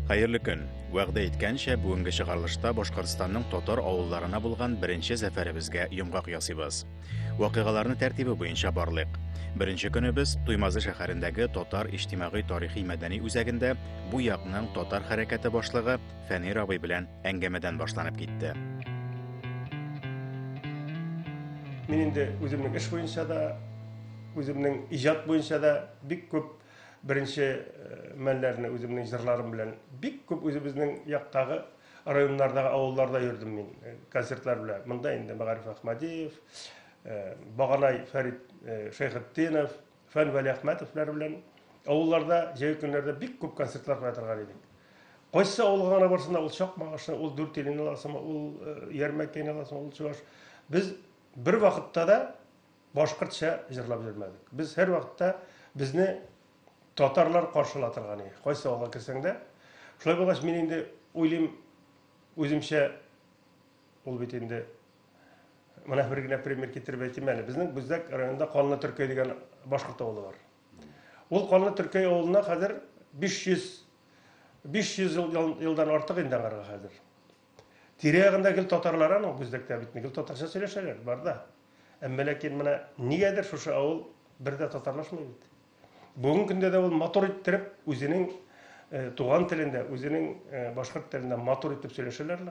Хәерле көн! Вәгъдә иткәнчә, бүгенге чыгарылышта Башкортстанның татар авылларына булган беренче зәфәребезгә йомгак ясыйбыз. Вакыйгаларны тәртибе буенча барлыйк. Беренче көнебез Туймазы шәһәрендәге татар иҗтимагый тарихи мәдәни үзәгендә бу якның татар хәрәкәте башлыгы Фәнир абый белән әңгәмәдән башланып китте. Мин инде үземнең эш буенча да, үземнең иҗат буенча да бик күп беренче э, мәлләрне үземнең җырларым белән бик күп үзебезнең яктагы районнардагы авылларда йөрдем мин э, концертлар белән. Монда инде Мәгариф Әхмәдиев, э, Баганай Фәрит Шәйхетдинов, Фән Вәлиәхмәтовлар белән авылларда җәй көннәрдә бик күп концертлар куя торган идек. Кайсы авылга гына барсында ул чак магышны, ул дүрт елын аласымы, ул э, ярмәкәне аласымы, ул чуваш. Без бер вакытта да башкортча җырлап йөрмәдек. Без һәр вакытта безне татарлар каршыла торган иде. Кайсы авылга керсәң дә. Шулай булгач, мин инде уйлыйм, үземчә ул бит инде Менә бер генә пример китереп әйтим әле. Безнең Бүздәк районында Канлы Төркәй дигән башкорт авылы бар. Ул Канлы Төркәй авылына хәзер 500 500 ел елдан артык инде аңарга хәзер. Тирә-ягында гел татарлар аның Бүздәктә бит гел татарча сөйләшәләр, бар да. Әмма ләкин менә нигәдер шушы авыл бер дә татарлашмый бит. Бүгенге көндә дә ул матур иттереп үзенең э, туган телендә, үзенең э, башкорт телендә матур итеп сөйләшәләр.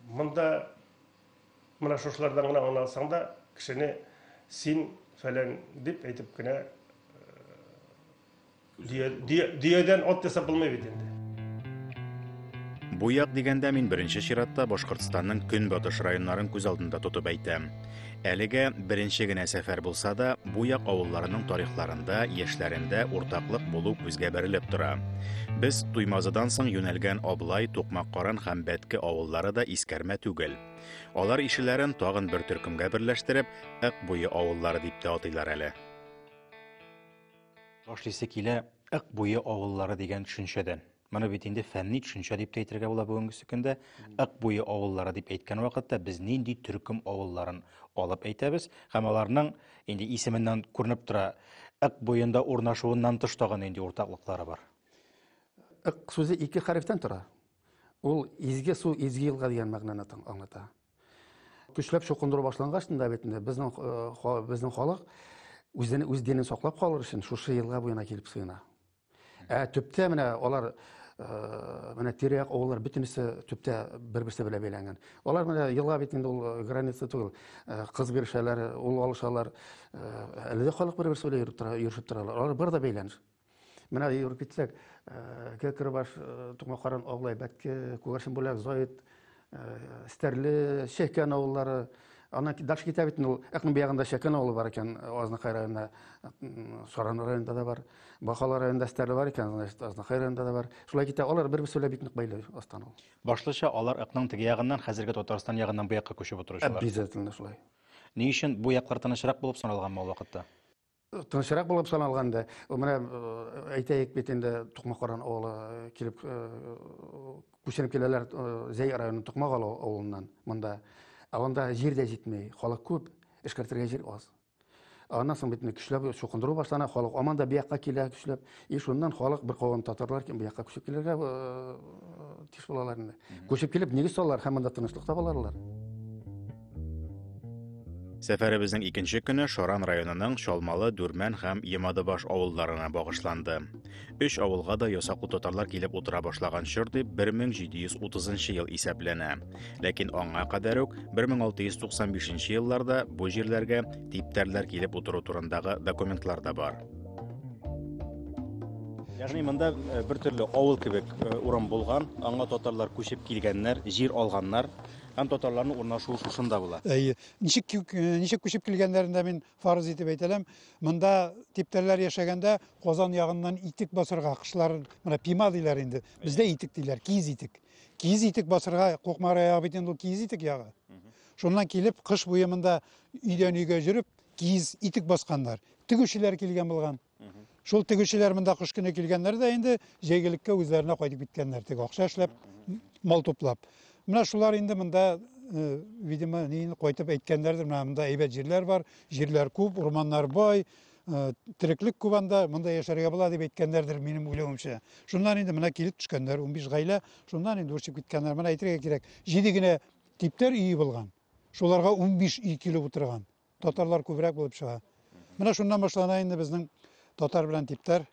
Монда менә шушылардан гына аңласаң да, кешене син фәлән дип әйтеп кенә дөядән ат ясап булмый бит инде. Буяк дигәндә мин беренче чиратта Башкортстанның көнбатыш районнарын күз алдында тотып әйтәм. Әлегә беренче генә сәфәр булса да, бу як авылларының тарихларында, яшьләрендә уртаклык булу күзгә бәрелеп тора. Без Туймазыдан соң юнәлгән Аблай, Тукмаккаран һәм Бәтке авыллары да искәрмә түгел. Алар ишеләрен тагын бер төркемгә берләштереп, Ык буе авыллары дип тә атыйлар әле. Башлыйсы килә Ык буе авыллары дигән төшенчәдән. Моны бит инде фәнни төшенчә дип тә әйтергә була бүгенгесе көндә. Ык буе авыллары дип әйткән вакытта без нинди төркем авылларын алып әйтәбез һәм аларның инде исеменнән күренеп тора, ык буенда урнашуыннан тыш тагын нинди уртаклыклары бар? Ык сүзе ике хәрефтән тора. Ул изге су, изге елга дигән мәгънәне аңлата. Көчләп чукындыру башлангач та бит инде безнең э, безнең халык үзен үз денен саклап калыр өчен шушы елга буена килеп сыена. Ә төптә менә алар э, менә тирәк авыллар бөтенесе төптә бер-берсе белән бәйләнгән. Алар менә елга бит инде ул э, граница түгел. Э, кыз бирешәләр, ул алышалар. Әле дә халык бер-берсе белән йөреп тора, йөршеп торалар. Алар бар да бәйләнеш. Менә йөреп китсәк, Кекрбаш, Тукмакаран, Аглай, Бәтке, Күгәрчен бүләк, Заид, Э, Стәрле, Чәкән авыллары, Ана дальше китә бит ул якын биягында Чәкән авылы бар икән, Азнакай районында, Саран районында да бар. Бахала районында Стәрле бар икән, значит, Азнакай районында да бар. Шулай китә, алар бер-берсе белән бик нык бәйле астан ул. Башлыча алар ыкның теге ягыннан, хәзерге Татарстан ягыннан бу якка күчеп утыручылар. Обязательно шулай. Ни өчен бу яклар тынычрак булып саналганмы ул вакытта? тынычрак булып саналган инде менә э, әйтәйек бит инде тукмакаран авылы э, килеп э, күченеп киләләр зәй районы тукмак авылыннан монда ә анда җир дә җитмей халык күп эшкәртергә җир аз аннан соң бит көчләп чукындыру башлана халык аман да бу якка килә көчләп И шуннан халык бер калган татарлар кем бу якка күчеп килергә тиеш булалар инде. Күчеп килеп нигез салалар һәм монда тынычлык табаларлар. Сәфәребезнең икенче көне Шаран районының Чалмалы, Дүрмән һәм Емадыбаш авылларына багышланды. Өч авылга да ясаклы татарлар килеп утыра башлаган чор дип 1730 ел исәпләнә. Ләкин аңа кадәр үк 1695 елларда бу җирләргә типтәрләр килеп утыру турындагы документлар да бар. Ягъни монда э, бер төрле авыл кебек э, урам булган, аңа татарлар күчеп килгәннәр, җир алганнар һәм татарларның урнашуы шушында була. Әйе. Ничек э, ничек күчеп килгәннәрен дә мин фарыз итеп әйтәләм. Монда типтәрләр яшәгәндә Казан ягыннан итек басырга кышларын, менә пима диләр инде. Бездә итек диләр, киез итек. Киез итек басырга Кукмара ягы бит инде киез итек ягы. Шуннан килеп кыш буе монда өйдән өйгә жүреп киез итек басканнар. тегүчеләр килгән булган. Шул тегүчеләр монда кыш көне килгәннәр дә инде җәйгелеккә үзләренә кайтып киткәннәр теге акча эшләп, мал туплап. Менә шулар инде монда, э, видимо, нин кайтып әйткәннәрдер, менә монда әйбәт җирләр бар, җирләр күп, урманнар бай, э, тереклек күп анда, монда яшәргә була дип әйткәннәрдер, минем уйлавымча. Шуннан инде менә килеп төшкәннәр, 15 гаилә, шуннан инде үрчеп киткәннәр. Менә әйтергә кирәк, җиде генә типтәр өе булган. Шуларга 15 өй килеп утырган. Татарлар күбрәк булып чыга. Менә шуннан башлана инде безнең татар белән типтәр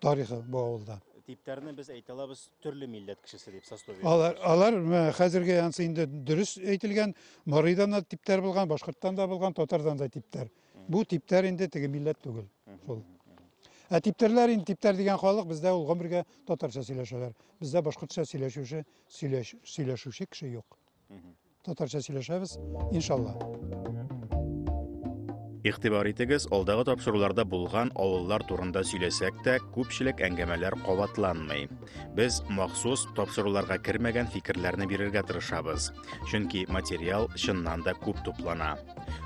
тарихы бу авылда. Типтәрне без әйтә алабыз төрле милләт кешесе дип сословие. Алар алар хәзерге ансы инде дөрес әйтелгән, Марыйдан да типтәр булган, башкорттан да булган, татардан да типтәр. Бу типтәр инде теге милләт түгел. Шул. Ә типтәрләр инде типтәр дигән халык бездә ул гомергә татарча сөйләшәләр. Бездә башкортча сөйләшүче сөйләшүче кеше юк. Татарча сөйләшәбез, иншалла. Игътибар итегез, алдагы тапшыруларда булган авыллар турында сөйләсәк тә, күпчелек әңгәмәләр кабатланмый. Без махсус тапшыруларга кермәгән фикерләрне бирергә тырышабыз, чөнки материал чыннан да күп туплана.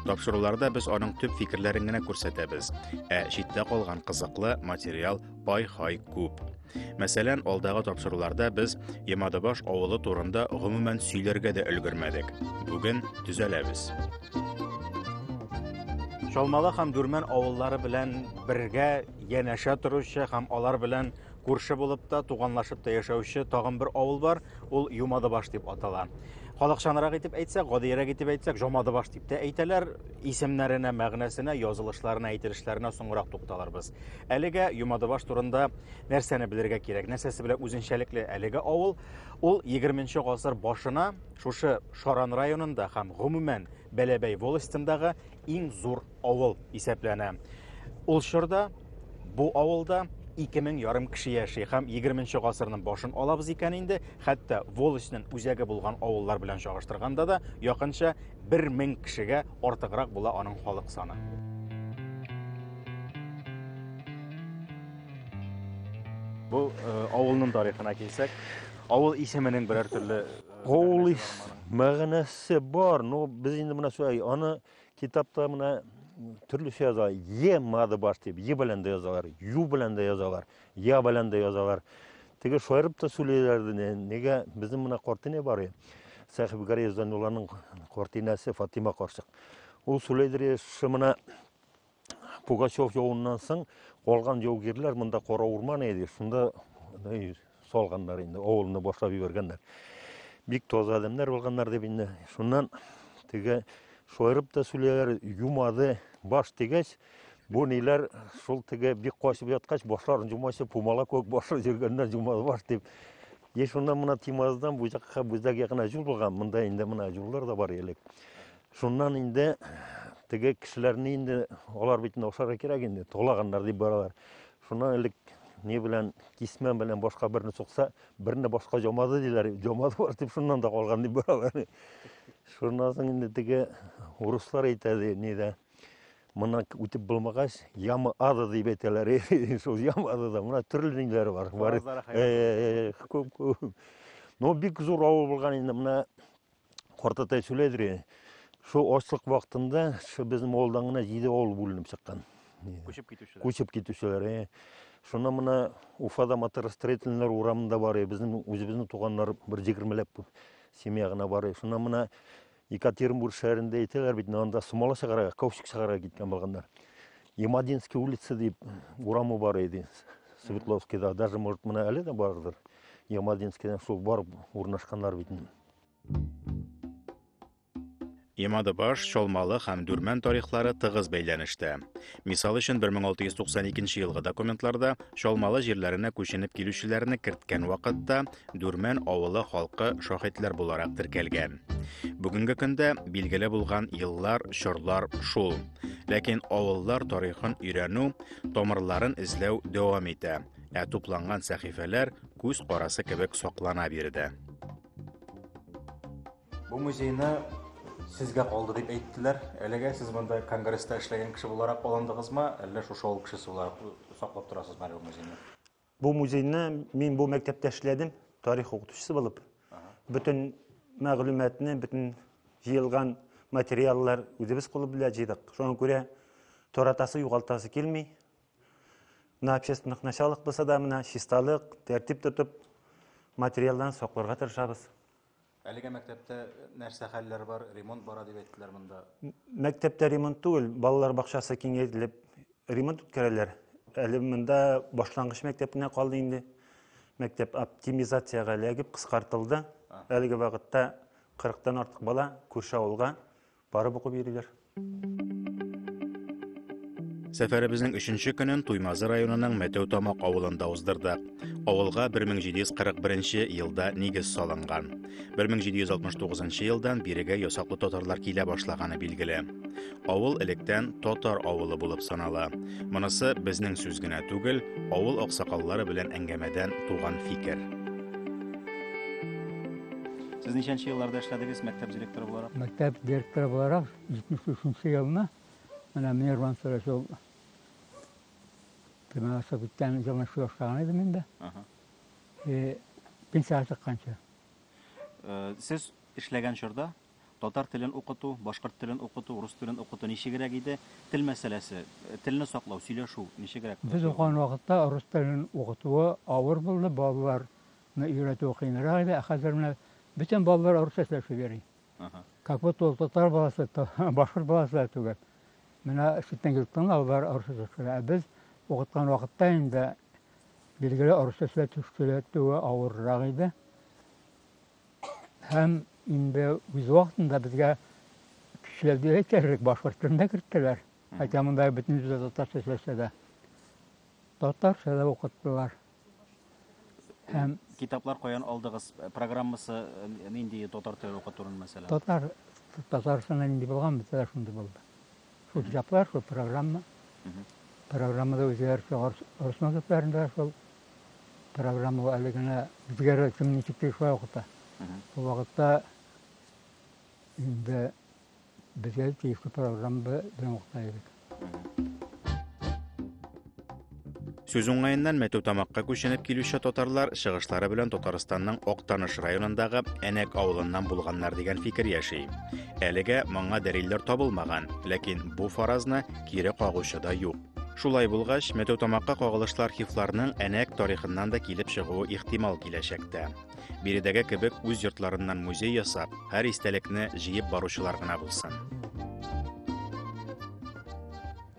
Тапшыруларда без аның төп фикерләрен генә күрсәтәбез, ә читтә калган кызыклы материал ай-хай күп. Мәсәлән, алдагы тапшыруларда без Ямадабаш авылы турында гомумән сөйләргә дә өлгермәдек. Бүген төзәләбез. Чалмала һәм Дүрмән авыллары белән бергә янәшә торучы һәм алар белән күрше булып та, туганлашып та яшәүче тагын бер авыл бар, ул Юмадыбаш дип атала. Халыкчанрак итеп әйтсәк, гадиерәк итеп әйтсәк, Жомадыбаш дип тә әйтәләр. Исемнәренә, мәгънәсенә, язылышларына, әйтелешләренә соңрак тукталырбыз. Әлегә Юмадыбаш турында нәрсәне белергә кирәк? Нәрсәсе белән үзенчәлекле әлеге авыл? Ул 20-нче гасыр башына шушы Шаран районында һәм гомумән Бәләбәй волостендагы иң зур авыл исәпләнә. Ул чорда бу авылда 2000 ярым кеше яши һәм 20-нче гасырның башын алабыз икән инде, хәтта волостьнең үзәге булган авыллар белән чагыштырганда да якынча бер мең кешегә артыграк була аның халык саны. Бу э, авылның тарихына килсәк, авыл исеменең берәр төрле э, авыл ис мәгънәсе бар, но без инде менә шулай аны китапта менә төрлечә яза, е мады баш дип, е белән дә язалар, ю белән дә язалар. Я белән дә язалар. Теге шаярып та сөйлиләр, нигә безнең менә картина бар и. Сәхиб Гария Зәнулланың картинасы Фатима карчык. Ул сөйләйдер, шымына Пугачев явыннан соң калган яугирләр монда кара урман иде, шунда салганнар инде, авылны башлап җибәргәннәр. Бик таза адәмнәр булганнар дип инде. Шуннан теге шаярып та сөйләләр, юмады, баш тигәч, Бу ниләр шул теге бик качып яткач, башларын җумачы, пумала кебек башы җөргәннәр җумаз баш дип. Е шуннан мына Тимаздан бу якка бүздәк якына җул булган, монда инде мына җуллар да бар элек. Шуннан инде теге кешеләрне инде алар бит инде ашарга кирәк инде, толаганнар дип баралар. Шуннан элек не белән кисмә белән башка берне сукса, берне башка җомады диләр, җомады бар дип шуннан да калган дип баралар. Шуннан соң инде теге урыслар әйтә ди, нидә, Моннан үтеп булмагач, яма ады дип әйтәләр. Шул яма адыда мына төрле ниләр бар. Бар. Күп күп. Ну бик зур авыл булган инде мына картатай сүләдер. Шул ачлык вакытында шу безнең авылдан гына 7 авыл бүленеп чыккан. Күчеп китүчеләр. Күчеп китүчеләр. Шуна мына Уфада моторостроительнер урамында бар, безнең үзебезнең туганнар бер 20 ләп семья гына бар. Шуна мына Екатеринбург шәһәрендә әйтәләр бит, анда сумала чыгарга, каучук чыгарга киткән булганнар. Ямадинский улица дип урамы бар иде. Светловскийда даже может менә әле дә бардыр. Ямадинскийдан шул барып урнашканнар бит. Имадыбаш, Чалмалы һәм Дүрмән тарихлары тыгыз бәйләнештә. Мисал өчен 1692 елгы документларда Чалмалы җирләренә күченеп килүчеләрне керткән вакытта Дүрмән авылы халкы шаһитлар буларак теркәлгән. Бүгенге көндә билгеле булган еллар, чорлар шул. Ләкин авыллар тарихын өйрәнү, тамырларын эзләү дәвам итә. Ә тупланган сәхифәләр күз карасы кебек саклана биредә. Бу музейны сезгә калды дип әйттеләр. Әлегә сез монда конгресста эшләгән кеше буларак алындыгызмы, әллә шушы авыл кешесе буларак саклап торасызмы әле бу музейны? Бу музейны мин бу мәктәптә эшләдем, тарих укытучысы булып. Бөтен мәгълүматны, бөтен җыелган материаллар үзебез кулы белән җыйдык. Шуңа күрә торатасы, югалтасы килми. Менә общественных началах булса да, менә чисталык, тәртип тотып, материалларны сакларга тырышабыз. Әлегә мәктәптә нәрсә хәлләр бар, ремонт бара дип әйттеләр монда. Мәктәптә ремонт түгел, балалар бакчасы киңәйтелеп ремонт үткәрәләр. Әле монда башлангыч мәктәп кенә калды инде. Мәктәп оптимизациягә эләгеп кыскартылды. Әлеге вакытта 40 тан артык бала күрше авылга Барып укып йөриләр. Сәфәребезнең өченче көнен Туймазы районының Мәтәү Тамак авылында уздырдык. Авылга 1741 елда нигез салынган. 1769 елдан бирегә ясаклы татарлар килә башлаганы билгеле. Авыл электән татар авылы булып санала. Монысы безнең сүз генә түгел, авыл аксакаллары белән әңгәмәдән туган фикер. Сез ничәнче елларда эшләдегез мәктәп директоры буларак? Мәктәп директоры буларак 73 елны менә мин Роман Сәләш ул төмән ашып киткән елны шул ашлаган идем инде. Э, пенсияга чыкканчы. Э, сез эшләгән чорда татар телен укыту, башкорт телен укыту, рус телен укыту ничегрәк иде? Тел мәсьәләсе, э, телне саклау, сөйләшү ничегрәк? Без укыган вакытта рус телен укытуы авыр булды, балалар Менә өйрәтүе кыенрак иде, ә хәзер менә бөтен балалар урысча сөйләшеп йөри. Как будто ул татар баласы, башкорт баласы да түгел. Менә читтән килеп тыңла, алар урысча сөйләшә. Ә без укыткан вакытта инде билгеле урысча сөйләтүе авыррак иде. Һәм инде үз вакытында безгә көчләп дип әйтерлек башкорт телен дә керттеләр. Хәтта монда бөтен җирдә татарча сөйләшә дә. Татарча да укыттылар. Һәм китаплар каян алдыгыз? Программасы нинди татар теле укытуның мәсәлән? Татар Татарстанда нинди булган мәсәлә шундый булды. Шул китаплар, шул программа. Программада үзләр орсман төпләрендә шул программа әле генә безгә рәсем ничек тиешле укыта. Бу вакытта инде Без әле тиешле программа белән укыта идек. Сүз уңаеннан мәтү тамакка күченеп килүче татарлар чыгышлары белән Татарстанның Актаныш районындагы Әнәк авылыннан булганнар дигән фикер яши. Әлегә моңа дәлилләр табылмаган, ләкин бу фаразны кире кагучы да юк. Шулай булгач, мәтү тамакка кагылышлы архивларның Әнәк тарихыннан да килеп чыгуы ихтимал киләчәктә. Биредәге кебек үз йортларыннан музей ясап, һәр истәлекне җыеп баручылар гына булсын.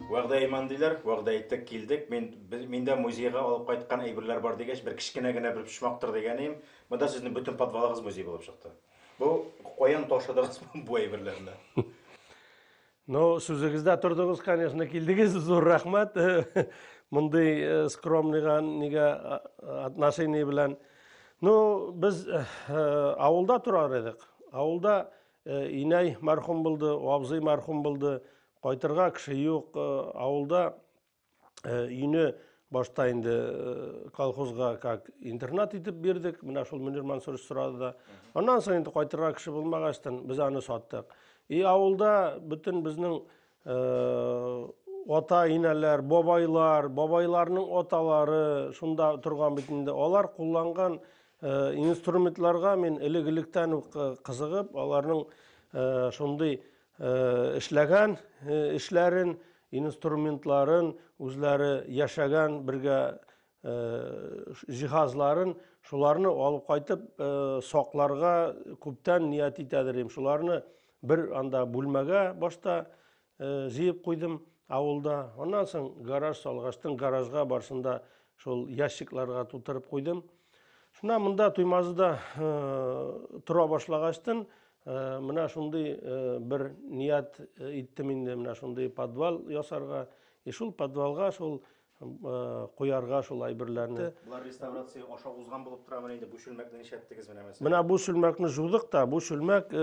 Вәгъдә иман диләр, вәгъдә иттек, килдек. Мин миндә музейга алып кайткан әйберләр бар дигәч, бер кечкенә генә бер почмактыр дигәнем, монда сезнең бөтен подвалыгыз музей булып чыкты. Бу каян ташыдыгыз бу әйберләрне? Ну, сүзегездә тордыгыз, конечно, килдегез, зур рәхмәт. Мондый э, скромныйга нигә а- а- отношение белән. Ну, без э, э, авылда торар идек. Авылда э, инәй мәрхүм булды, абзый мәрхүм булды. Кайтырга кеше юк. Э, авылда Э, өйне башта инде э, колхозга как интернат итеп бирдек менә шул мөнир мансурович сорады да аннан соң инде кайтырга кеше булмагачтан без аны саттык и авылда бөтен безнең э, ата инәләр бабайлар бабайларның аталары шунда торган бит инде алар кулланган инструментларга мин элек электән үк кызыгып аларның шундый эшләгән эшләрен инструментларын, үзләре яшәгән бергә җиһазларын, шуларны алып кайтып сакларга күптән ният итәдер идем. Шуларны бер анда бүлмәгә башта җыеп куйдым авылда. Аннан соң гараж салгачтын, гаражга барсында шул ящикларга тутырып куйдым. Шуннан монда Туймазыда тора башлагачтын, Э, менә шундый э, бер ният э, иттем инде менә шундый подвал ясарга и шул подвалга шул куярга шул әйберләрне булар реставрация аша узган булып торамы инде бу чүлмәкне нишләттегез менә мәсәлән менә бу чүлмәкне жудык та бу чүлмәк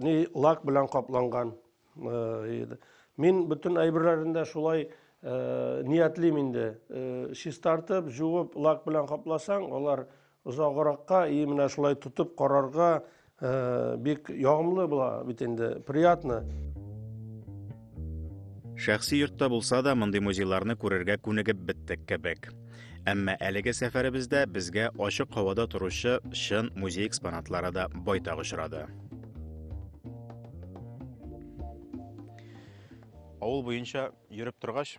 ни лак белән капланган Мин бөтен әйберләрен дә шулай ниятлим инде. Чистартып, җуып, лак белән капласаң, алар озагракка и менә шулай тотып карарга бик ягымлы була бит инде, приятно. Шәхси йортта булса да, мондый музейларны күрергә күнегеп беттек кебек. Әмма әлеге сәфәребездә безгә ачык һавада торучы чын музей экспонатлары да байтак очрады. Авыл буенча йөреп торгач,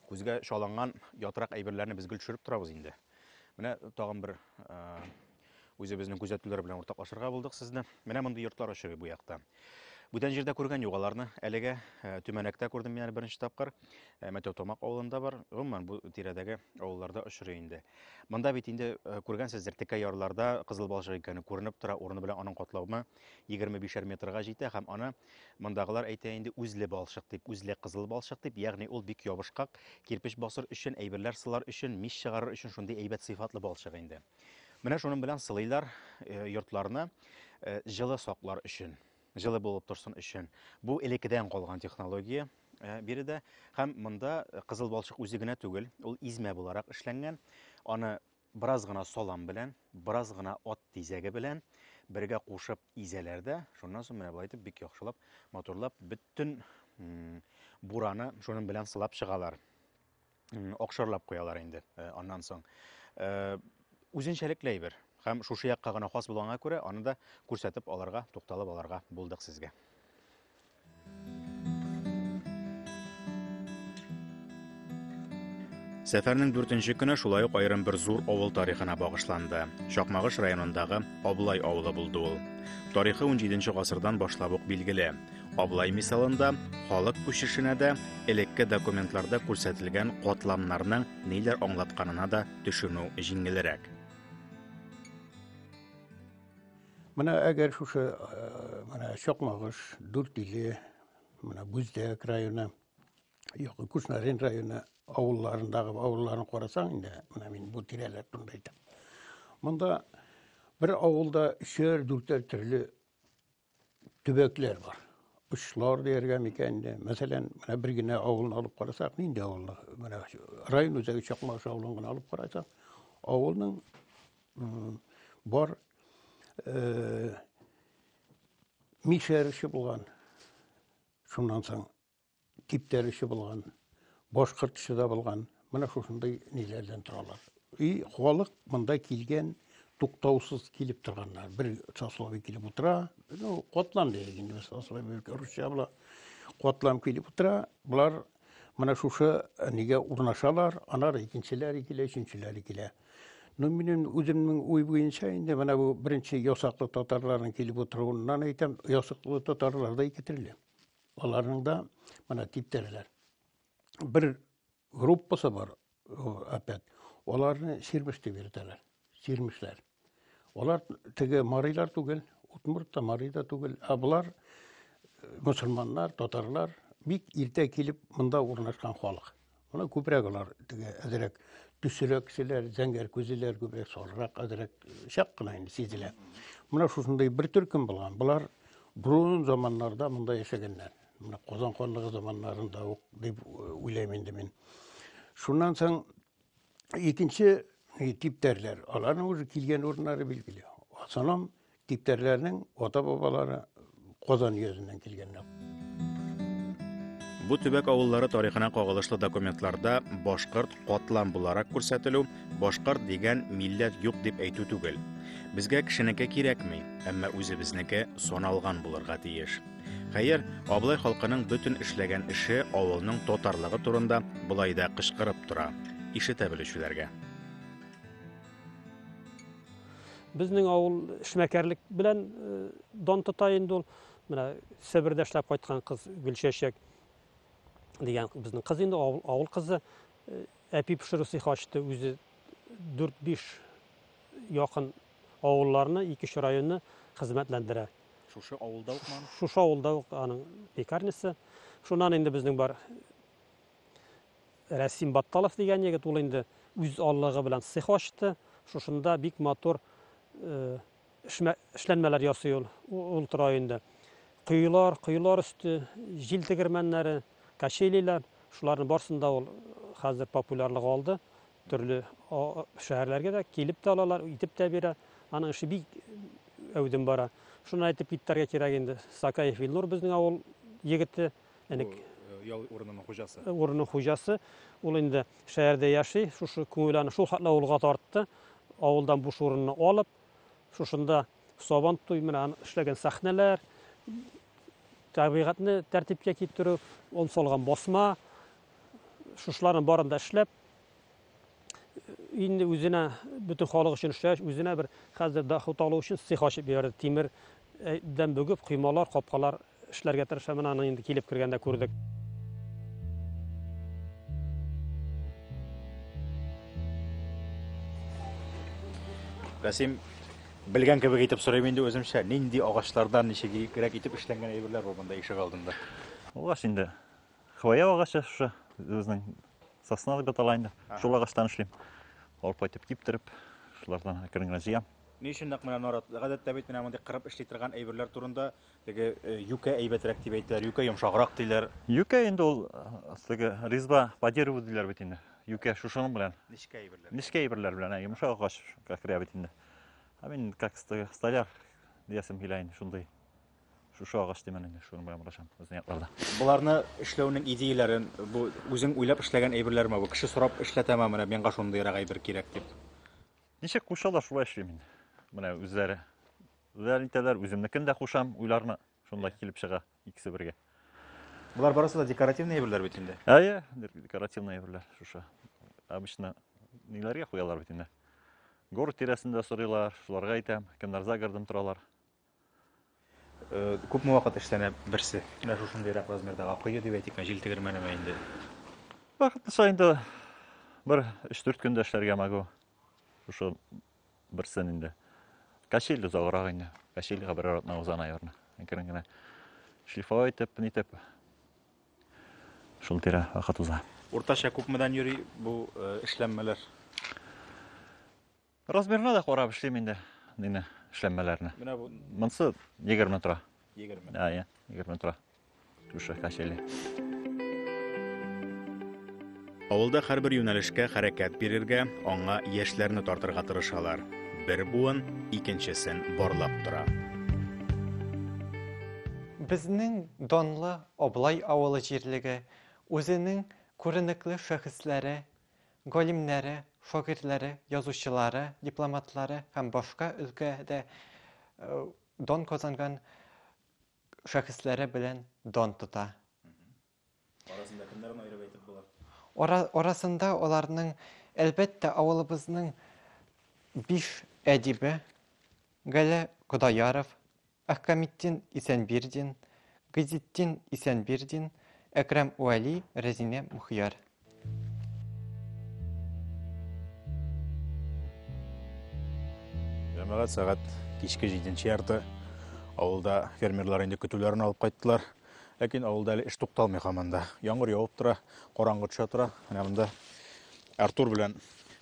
күзгә чаланган ятрак әйберләрне без гел төшереп торабыз инде. Менә тагын бер үзебезнең күзәтүләр белән уртаклашырга булдык сезне. Менә мондый йортлар очрый бу якта. Бүтән җирдә күргән юк аларны. Әлегә э, Төмәнәктә күрдем мин әле беренче тапкыр. Э, Мәтәү Томак авылында бар. Гомумән бу тирәдәге авылларда очрый инде. Монда бит инде э, күргәнсездер, текә ярларда кызыл балчык икәне күренеп тора, урыны белән аның катлаумы егерме бишәр метрга җитә һәм аны мондагылар әйтә инде үзле балчык дип, үзле кызыл балчык дип, ягъни ул бик ябышкак, кирпеч басыр өчен, әйберләр сылар өчен, мич чыгарыр өчен шундый әйбәт сыйфатлы балчык инде. Менә шуның белән сылыйлар э, йортларны э, җылы саклар өчен, җылы булып торсын өчен. Бу элеккедән калган технология э, биредә һәм монда кызыл балчык үзе генә түгел, ул измә буларак эшләнгән. Аны Бераз гына салам белән, бераз гына ат тизәге белән бергә кушып изәләр дә, шуннан соң менә болай итеп бик яхшылап, матурлап бөтен бураны шуның белән сылап чыгалар. Акшарлап куялар инде э, аннан соң. Э, үзенчәлекле әйбер һәм шушы якка гына хас булганга күрә, аны да күрсәтеп аларга, тукталып аларга булдык сезгә. Сәфәрнең дүртенче көне шулай ук аерым бер зур авыл тарихына багышланды. Чакмагыш районындагы Аблай авылы булды ул. Тарихы 17 гасырдан башлап ук билгеле. Аблай мисалында халык күчешенә дә, элекке документларда күрсәтелгән катламнарның ниләр аңлатканына да төшенү җиңелрәк. Менә әгәр шушы менә Чакмагыш, Дүртиле, менә Бүздәк районы, Якын Кушнарин районы авылларындагы авылларын карасаң инде, менә мин бу тирәләр турында әйтәм. Монда бер авылда өчәр, дүртәр төрле төбәкләр бар. Очлар дияргә микән инде. Мәсәлән, менә бер генә авылны алып карасак, нинди авылны? Менә район үзәге Чакмагыш авылын гына алып карасак, авылның Бар мишәрче булган. Шуннан соң типтәрче булган, башкортчы да булган. Менә шушындый ниләрдән торалар. И халык монда килгән туктаусыз килеп торганнар. Бер сословие килеп утыра. Ну, котлам дияйек инде без сословие русча була. Котлам килеп утыра. Болар Менә шушы э, нигә урнашалар, анар икенчеләре килә, өченчеләре килә. Ну, минем үземнең уй буенча инде менә бу беренче ясаклы татарларның килеп утыруыннан әйтәм, ясаклы татарлар да ике төрле. Аларның да менә типтәрләр. Бер группасы бар, опять. Аларны сирмеш дип йөртәләр. Сирмешләр. Алар теге марилар түгел, утмурт та мари да түгел, ә болар э, мусульманнар, татарлар бик иртә килеп монда урнашкан халык. Моны күбрәк алар теге әзрәк төсерәк кешеләр, зәңгәр күзлеләр күбрәк сарырак, әзрәк чак кына инде сизелә. Менә шушындый бер төркем булган. Болар бурун заманнарда монда яшәгәннәр. Менә Казан ханлыгы заманнарында ук дип уйлыйм инде мин. Шуннан соң икенче типтәрләр, аларның уже килгән урыннары билгеле. Санам типтәрләрнең ата-бабалары Казан йөзеннән килгәннәр. Бу төбәк авыллары тарихына кагылышлы документларда башкорт катлам буларак күрсәтелү, башкорт дигән милләт юк дип әйтү түгел. Безгә кешенеке кирәкми, әмма үзебезнеке саналган булырга тиеш. Хәер, Аблай халкының бөтен эшләгән эше авылның татарлыгы турында болай да кычкырып тора. Ишетә белүчеләргә. Безнең авыл эшмәкәрлек белән э, дан тота инде ул. Менә Себердә эшләп кайткан кыз Гөлчәчәк дигән безнең кыз инде авыл, авыл кызы. Э, әпи пешерү цехы ачты үзе 4-5 якын авылларны, ике районны хезмәтләндерә. Шушы авылда ук ман? Шушы авылда ук аның пекарнясы. Шуннан инде безнең бар Рәсим Батталов дигән егет, ул инде үз аллыгы белән цех ачты. Шушында бик матур э, эшләнмәләр ясый ул, ул тора инде. Коелар, коелар өсте, җил тегермәннәре, качелиләр, шуларның барсында ул хәзер популярлык алды. Төрле шәһәрләргә дә килеп тә алалар, итеп тә бирә. Аның эше бик әүдем бара. Шуны әйтеп китәргә кирәк инде. Сакаев Илнур безнең авыл егете. Әнек э, ял урынының хуҗасы. Э, урынның хуҗасы. Ул инде шәһәрдә яши. Шушы күңел аны шул хәтле авылга тартты. Авылдан буш урынны алып, шушында Сабан туй менән эшләгән сәхнәләр, табигатьне тәртипкә китерү, он салган басма, шушыларның барын да эшләп, инде үзенә бөтен халык өчен эшләгәч, үзенә бер хәзер доход алу өчен цех ачып җибәрде. Тимер э, дән бөгеп, коймалар, капкалар эшләргә тырыша. Менә аны инде килеп кергәндә күрдек. Расим, белгән кебек итеп сорыйм инде үземчә, нинди агачлардан ничегрәк итеп эшләнгән әйберләр бар монда ишек алдында? Ул инде Хвоя агачы шушы безнең сосна дип атала инде. Шул агачтан эшлим. Алып кайтып киптереп, шулардан әкрен генә җыям. Ни өчен нәкъ менә нарат? Гадәттә бит менә мондый кырып эшли торган әйберләр турында теге э, юкә әйбәтрәк дип әйтәләр, юкә йомшаграк диләр. Юкә инде ул э, теге резьба по дереву диләр бит инде. Юкә шушының белән. Нечкә әйберләр. Нечкә әйберләр белән, ә йомшак агач керә бит инде. Ә мин как столяр диясем килә инде шундый. Шушы агач димән инде, шуны белән барачам безнең якларда. Буларны эшләүнең идеяләрен, бу үзең уйлап эшләгән әйберләрме бу? Кеше сорап эшләтәме, менә миңа шундыйрак әйбер кирәк дип. Ничек кушалар, шулай эшлим мин. Менә үзләре. Үзләре итәләр, үземнекен дә кушам, уйларны шунда килеп чыга икесе бергә. Булар барысы да декоративный әйберләр бит инде. Әйе, декоративный әйберләр шушы. Обычно ниләргә куялар бит инде. Город тирәсендә сорыйлар, шуларга әйтәм, кемнәр за городым торалар. Күпме вакыт эшләнә берсе? Менә шушындыйрак размердагы кое дип әйтик, җил тегермәнеме инде? Вакыт саен да бер 3-4 көндә эшләргә могу. Шушы берсен инде. Качель узаграк инде. Качельга бер арытна уза, наверное. Әкрен генә шлифовать итеп, ни итеп. Шул тирә вакыт уза. Уртача күпмедән йөри бу эшләнмәләр? Размерына да карап эшлим инде нины эшләнмәләрне. Менә бу монсы 20 тора. 20. А, я, 20 тора. Түшә качели. Авылда һәрбер юнәлешкә хәрәкәт бирергә, аңа яшьләрне тартырга тырышалар. Бер буын икенчесен барлап тора. Безнең данлы Облай авылы җирлеге үзенең күренекле шәхесләре Галимнәре, шагыйрьләре, язучылары, дипломатлары һәм башка өлкәдә дан казанган шәхесләре белән дан тота. Арасында кемнәрен аерып әйтеп була? Ара, арасында аларның, әлбәттә, авылыбызның биш әдибе, Гәлә Кодаяров, Әхкаметдин Исәнбирдин, Гыйзетдин Исәнбирдин, Әкрәм Уәли, Рәзинә Мөхияр. Җәмәгать сәгать кичке җиденче ярты. Авылда фермерлар инде көтүләрен алып кайттылар. Ләкин авылда әле эш тукталмый һаман да. Яңгыр явып тора, караңгы төшә тора. Менә монда Артур белән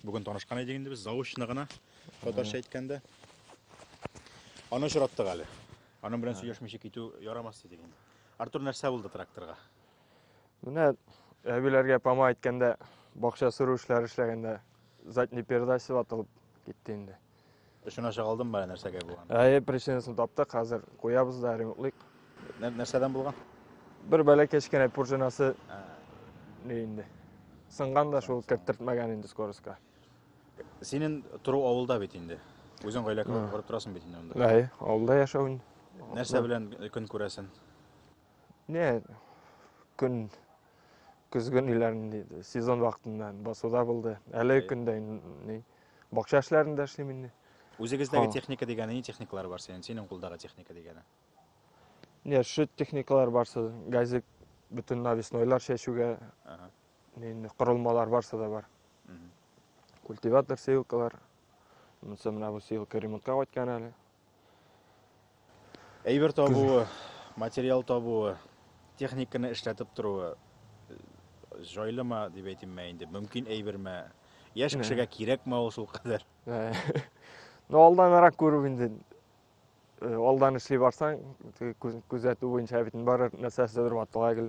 бүген танышкан идек инде без заочно гына. Татарча әйткәндә. Аны очраттык әле. Аның белән сөйләшмичә китү ярамас дидек инде. Артур нәрсә булды тракторга? Менә әбиләргә пама әйткәндә, бакча сөрү эшләре эшләгәндә задний передач ватылып китте инде. Эшен аша калдым бара нәрсәгә булган. Әйе, причинасын таптык, хәзер куябыз да ремонтлыйк. Нәр- Нәрсәдән булган? Бер бәләкәй кечкенә пружинасы ни инде. Сынган да шул керттертмәгән инде скоростька. Синен тору авылда бит инде. Үзең гаилә корып торасың бит инде монда. Әй, авылда яшәү. Нәрсә белән көн күрәсең? Не, көн көзгөн иләрендә сезон вакытында басуда булды. Әле көндә ни бакча эшләрендә эшлим инде. Үзегездәге техника дигәне ни техникалар бар синең? Синең кулдагы техника дигәне? Не, шит техникалар барсы, газик бөтен навеснойлар чәчүгә инде корылмалар барсы да бар культиватор сеялкалар монысы менә бу сеялка ремонтка кайткан әле әйбер табуы материал табуы техниканы эшләтеп торуы җайлымы дип әйтимме инде мөмкин әйберме яшь кешегә кирәкме ул шулкадәр ну алданрак күрү инде Э, алдан эшли барсаң күзәтү буенча бит бары нәрсәседер ватыла гел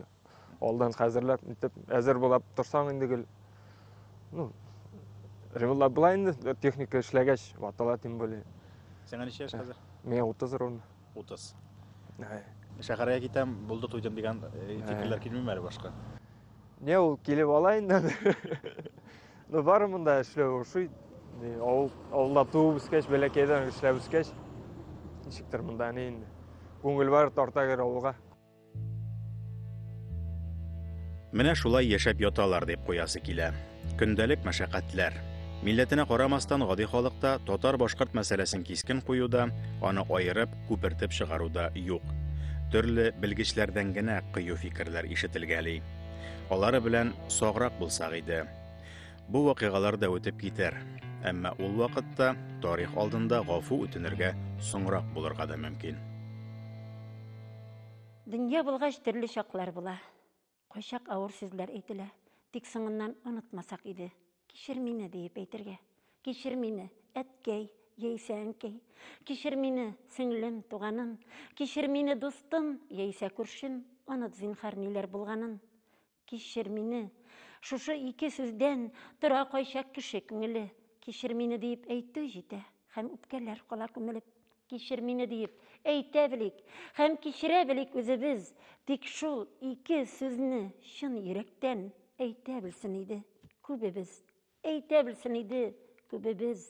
алдан хәзерләп итеп әзер булып торсаң инде гел ну ремонтлап була инде э, техника эшләгәч ватыла тем более сиңа ничә яшь хәзер миңа утыз ровно утыз ә. шәһәргә китәм булды туйдым дигән э, фикерләр килмиме әле башка не ул килеп ала инде Ну, бары монда эшләү ошый. Авыл, авылда туып үскәч, бәләкәйдән эшләп үскәч, ничектер монда әни инде. Күңел бар тарта гер авылга. Менә шулай яшәп яталар дип куясы килә. Көндәлек мәшәкатьләр. Милләтенә карамастан гади халыкта татар-башкорт мәсьәләсен кискен куюда, аны аерып, күпертеп чыгаруда юк. Төрле белгечләрдән генә кыю фикерләр ишетелгәли. Алары белән саграк булсак иде. Бу вакыйгалар да үтеп китәр. Әмма ул вакытта тарих алдында гафу үтенергә соңрак булырга да мөмкин. Дөнья булгач төрле чаклар була. Кайчак авыр сүзләр әйтелә. Тик соңыннан онытмасак иде. Кичер мине, диеп әйтергә. Кичер мине, әткәй, яисә әнкәй. Кичер мине, сеңлем, туганым. Кичер мине, дустым, яисә күршем. Оныт, зинһар, ниләр булганын. Кичер мине. Шушы ике сүздән тора кайчак кеше күңеле. Кичер мине, диеп әйтү җитә, һәм үпкәләр кала күмелеп. Кичер мине диеп әйтә белик һәм кичерә белик үзебез, тик шул ике сүзне чын йөрәктән әйтә белсен иде күбебез, әйтә белсен иде күбебез.